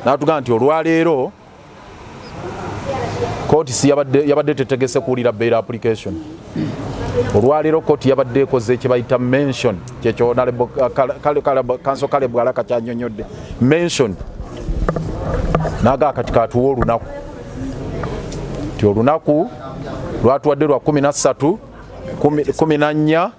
natugamba nti olwaleero kooti si yabadde tetegese kuwulira bail application olwaleero kooti yabadde ekoze ekyebayita mention kyekyokanso kale bwalaka kyanyonyodde mention naga kati katuwa olunaku ti olunaku lwatuwadde lwa 13 14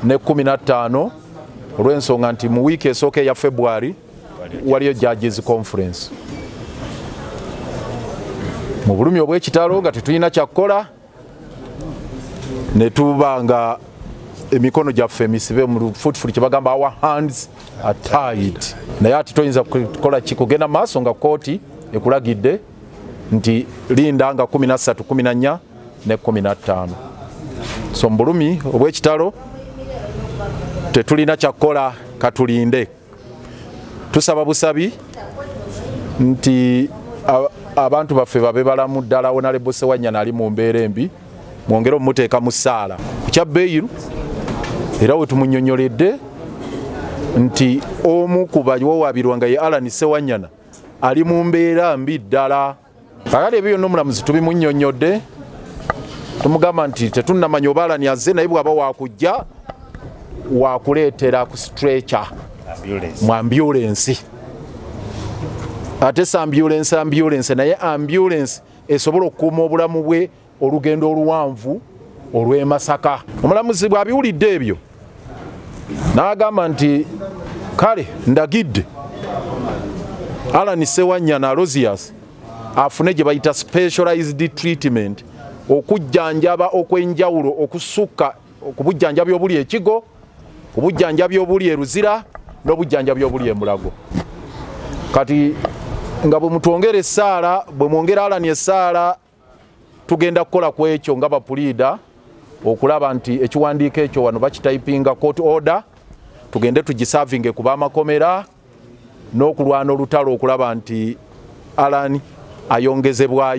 ne 15 olw'ensonga nti mu wiiki esooka eya february waliyo judges conference mu bulumi obw'ekitalo nga tetulina kyakukola ne tuba nga emikono gyaffe emisibe mu lufutufuli kye bagamba our hands are tied naye ati toyinza kukola ki kugenda maaso nga kooti ekulagidde nti linda nga 13 14 ne 15 so mu bulumi obw'ekitalo tetulina kyakukola katulinde tusaba busabi nti abantu baffe babe balamu ddala wonalebose wanyana ali mu mbeera embi mwongere omumuteeka mu ssaala kukya beyiru era wetumunyonyoledde nti omu ku bawawabirwa nga ye alan sewanyana ali mu mbeera mbi ddala kakati ebyo byonna omulamuzi tubimunyonyodde tumugamba nti tetunnamanya oba alani azze naye bwaba wakujja wakuleetera ku stretcha mu ambulensi ate si ambulensi ambulensi naye ambulensi esobola okukuuma obulamu bwe olugendo oluwanvu olw'e Masaka. Omulamuzi bw'abiwulidde ebyo n'agamba nti kale ndagidde Alan Sewanyana Rosius afune gye bayita specialized treatment okujjanjaba okwenjawulo okusukka ku bujjanjabi obuli ekigo ku bujjanjabi obuli eruzira n'obujjanjabi obuli emulago kati nga bwe mutwongera essaala bwe mwongera alani essaala tugenda kukola ku ekyo nga bapuliida okulaba nti ekiwandiiko ekyo wano bakitayipinga court order tugende tugisavinge ku bamakomera n'okulwana olutalo okulaba nti alani ayongezebwayo